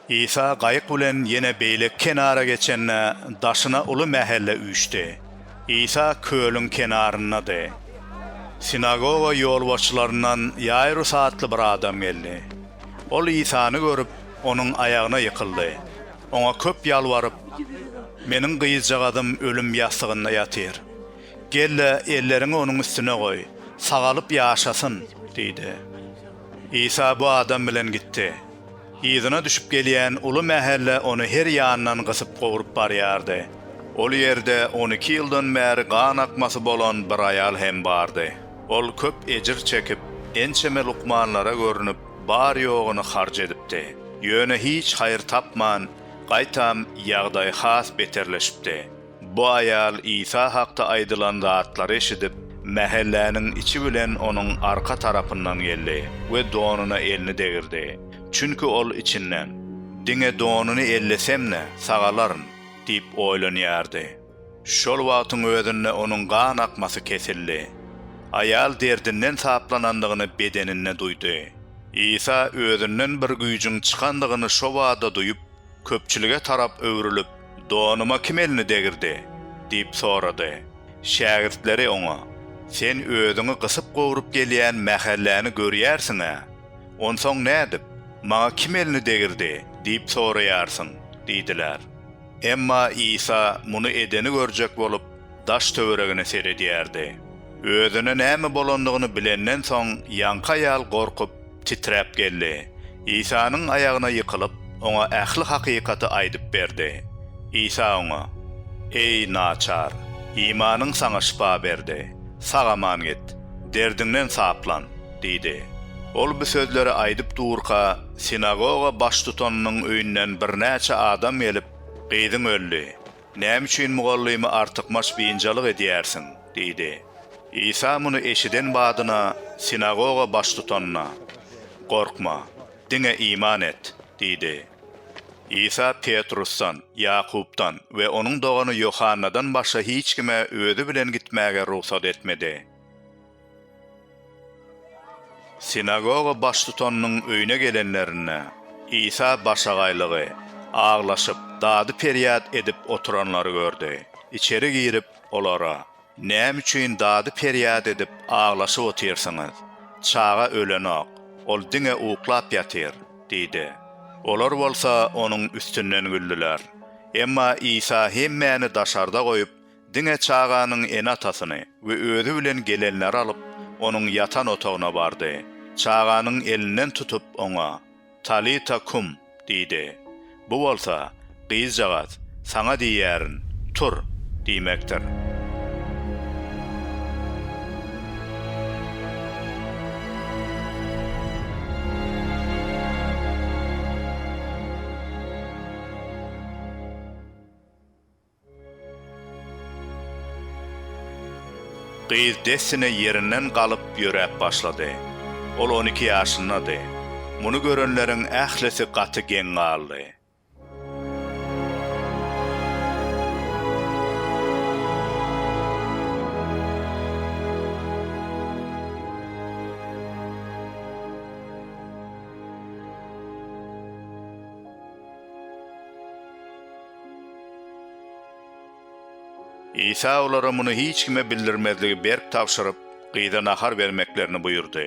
Isa gaýyk bilen ýene beýleki kenara geçende, daşyna uly mähelle üýşdi. Isa kölüň kenaryndady. Sinagoga ýolbaşçylaryndan Ýaýrus atly bir adam geldi. Ol Isany görüp, onuň aýagyna ýykyldy. Oňa köp ýalbaryp, Meniň gyzjagazym ölüm ýassygynda ýatyr. Gel-de, elleriňi onuň üstüne goý, sagalyp ýaşasyn! diýdi. Isa bu adam bilen gitdi. Yzyna düşüp gelýän uly mähelle ony her ýandan gysyp gowrup barýardy. Ol ýerde on iki ýyldan bäri gan akmasy bolan bir aýal hem bardy. Ol köp ejir çekip, ençeme lukmanlara görnüp, bar-ýogyny harç edipdi. Ýöne hiç haýyr tapman, gaýtam, ýagdaýy has beterleşipdi. Bu aýal Isa hakda aýdylan zatlary eşidip, mähelläniň içi bilen onuň arka tarapyndan geldi we donuna elini degirdi. Çünki ol içinden, Diňe donuny ellesem-de, sagalaryn diýip oýlanýardy. Şol wagtyň özünde onuň gan akmasy kesildi. Aýal derdinden saplanandygyny bedeninde duýdy. Isa özünden bir güýjüň çykandygyny şobada duýup, Köpçülige tarap öwrülip, Donuma kim elini degirdi? diýip sorady. Şägirtleri oňa, Sen özüňi gysyp-gowrup gelýän mähelläni görýärsiň-ä. Onsoň nädip, Maňa kim elini degirdi? diýip soraýarsyň? diýdiler. Emma Isa muny edeni görjek bolup, daş-töweregine seredýärdi. Özüne näme bolandygyny bilenden soň, ýaňky aýal gorkup, titräp geldi. Isanyň aýagyna ýykylyp, oňa ähli hakykaty aýdyp berdi. Isa oňa, Eý, naçar, imanyň saňa şypa berdi. Sag-aman git, derdiňden saplan! diýdi. Ol bu sözleri aýdyp durka, sinagoga baştutanynyň öýünden birnäçe adam gelip, Gyzyň öldi. Näme üçin mugallymy artykmaç biynjalyk edýärsiň? diýdi. Isa muny eşiden badyna, sinagoga baştutanyna, Gorkma, diňe iman et! diýdi. Isa Petrusdan, Ýakupdan we onuň dogany Ýohannadan başga hiç kime özi bilen gitmäge rugsat etmedi. Sinagoga baştutanynyň öýüne gelenlerinde, Isa başagaýlygy, aglaşyp, dady-perýat edip oturanlary gördi. Içeri girip, olara, Näme üçin dady-perýat edip, aglaşyp otyrsyňyz? Çaga ölenok, ol diňe uklap ýatyr diýdi. Olar bolsa Onuň üstünden güldüler. Emma Isa hemmäni daşarda goýup, Diňe çaganyň ene-atasyny we özi bilen gelenleri alyp, onuň ýatan otagyna bardy. Çaganyň elinden tutup, oňa, Talita kum! diýdi. Bu bolsa, Gyzjagaz, saňa diýýärin, tur! diýmekdir. Gyz dessine ýerinden galyp ýöräp başlady. Ol on iki ýaşyndady. Muny görenleriň ählisi gaty geň galdy. Isa olara muny hiç kime bildirmezligi berk tabşyryp, gyza nahar bermeklerini buýurdy.